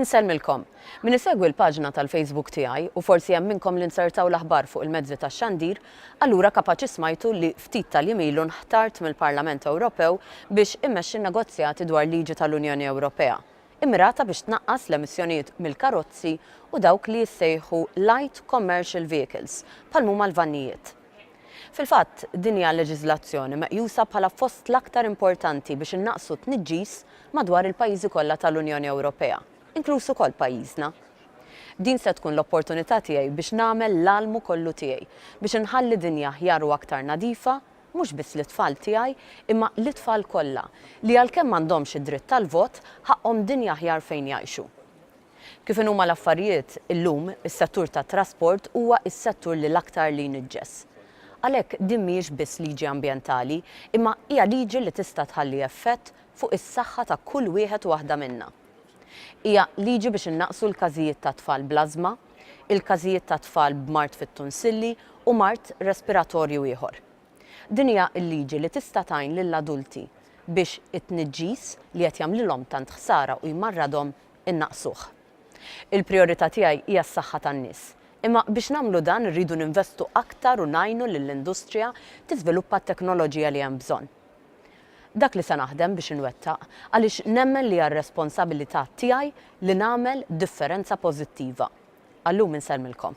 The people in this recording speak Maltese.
Insellmilkom. Min isegwi l-paġna tal-Facebook tiegħi, u forsi hemm minnkom li nzertaw l-aħbar fuq il-mezzi tax-xandir, allura kapaċi smajtu li ftit tal-jiem ilu nħtart mill-Parlament Ewropew biex immexxi n-negozjati dwar liġi tal-Unjoni Ewropea immirata biex tnaqqas l-emissjonijiet mill-karozzi u dawk li jissejħu light commercial vehicles, bħal m'huma l-vannijiet. Fil-fatt, din hija leġiżlazzjoni meqjusa bħala fost l-aktar importanti biex innaqqsu t-tniġġis madwar il-pajjiżi kollha tal-Unjoni Ewropea, inkluż ukoll pajjiżna. Din se tkun l-opportunità tiegħi biex nagħmel l-almu kollu tiegħi biex inħalli dinja aħjar u aktar nadifa mhux biss lit-tfal tiegħi imma lit-tfal kollha li għalkemm m'għandhomx id-dritt tal-vot, ħaqqhom dinja aħjar fejn jgħixu. Kif inhuma l-affarijiet, illum, is-settur tat-trasport huwa s-settur li l-aktar li jniġġes. Għalhekk din mhijiex biss liġi ambjentali, imma hija liġi li tista' tħalli effett fuq is-saħħa ta' kull wieħed u waħda minna. Hija liġi biex innaqqsu l-każijiet ta' tfal bl-ażma, il-każijiet ta' tfal b'mard fit-tunsilli u mard respiratorju ieħor. Din hija l-liġi li tista' tgħin lill-adulti biex it-tniġġis li qed jagħmlilhom tant ħsara u jmarradhom innaqqsuh. Il-prijorità tiegħi hija s-saħħa tan-nies, imma biex nagħmlu dan irridu ninvestu aktar u ngħinu lill-industrija tiżviluppa t-teknoloġija li hemm bżonn. Dak li se naħdem biex inwettaq, għaliex nemmen li hija r-responsabilità tiegħi li nagħmel differenza pożittiva. Għal-lum insellmilkom.